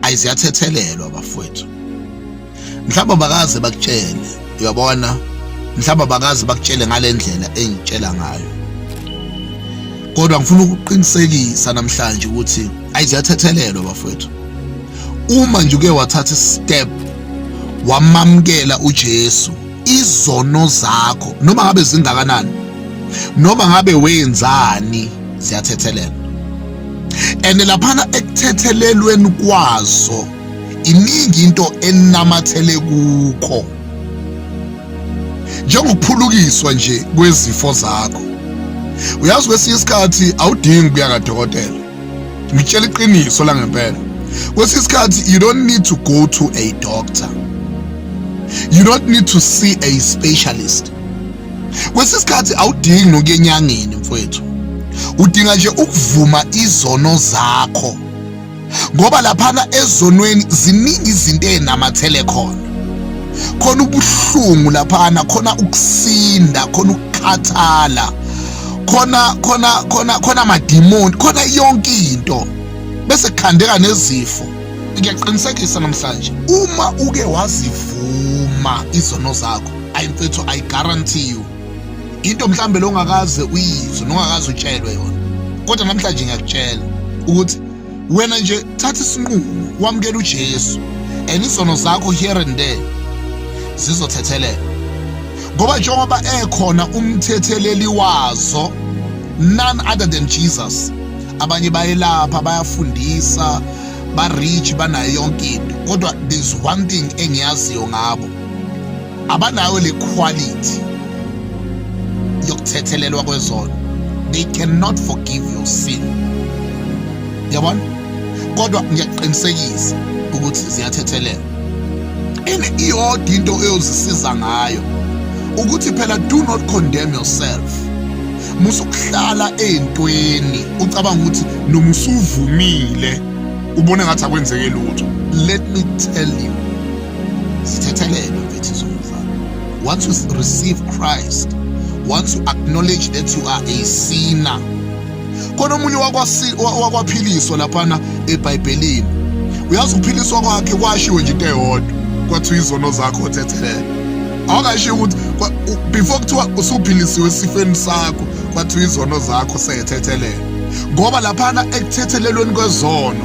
ayi ziyathethelelwa bafowethu mhlawumbe bakaze bakutshele uyabona mhlawumbe bakaze bakutshele ngale ndlela engitshela ngayo kodwa ngifuna ukuqinisekisa namhlanje ukuthi ayi ziyathethelelwa bafowethu uma nje uke wathatha step wamamkela uJesu izono zakho noma ngabe zingakanani noma ngabe wenzani ziyathethelelwa and laphana ekuthethelelweni kwazo iningi into enamathele kukho njengokuphulukiswa nje kwezifo zakho uyazi kwesinye isikhathi awudingi ukuya kadokotela ngitshela iqiniso la ngempela kwesinye isikhathi you don't need to go to a doctor you don't need to see a specialist kwesinye isikhathi awudingi nokuya enyangeni mfowethu udinga nje ukuvuma izono zakho ngoba laphana ezonweni ziningi izinto ezinamathele khona khona ubuhlungu laphana khona ukusinda khona ukukhathala khona khona khona khona amadimoni khona yonke into bese kukhandeka nezifo ngiyaqinisekisa namhlanje uma uke wazivuma izono zakho ayi mfethu i guarantee you into mhlambe longakaze uyizwe nongakaze utshelwe yona kodwa namhlanje ngiyakutshela ukuthi wena nje thatha isinqumo wamukela uJesu and izono zakho here and there zizothethelela ngoba njengoba ekhona umthetheleli wazo none other than Jesus abanye bayelapha bayafundisa ba-rich banayo yonke into kodwa there's one thing engiyaziyo ngabo abanayo le quality yokuthethelelwa kwezono they cannot forgive your sin yabona kodwa ngiyakuqinisekisa ukuthi ziyathethelela ene iyodwa into eyozisiza ngayo ukuthi phela do not condemn yourself musukuhlala ey'ntweni ucabanga ukuthi noma usuvumile ubone ngathi akwenzeke lutho let me tell you zithethelelwe mfethu zomfana once you receive christ once you acknowledge that you are a sinner khona omunye wakwaphiliswa laphana ebhayibhelini uyazi ukuphiliswa kwakhe kwashiwe nje into eyodwa kwathiwa izono zakho othethelele awukashiyo ukuthi before kuthiwa usuphilisiwe esifeni sakho kwathiwa izono zakho seyethethelela ngoba laphana ekuthethelelweni kwezono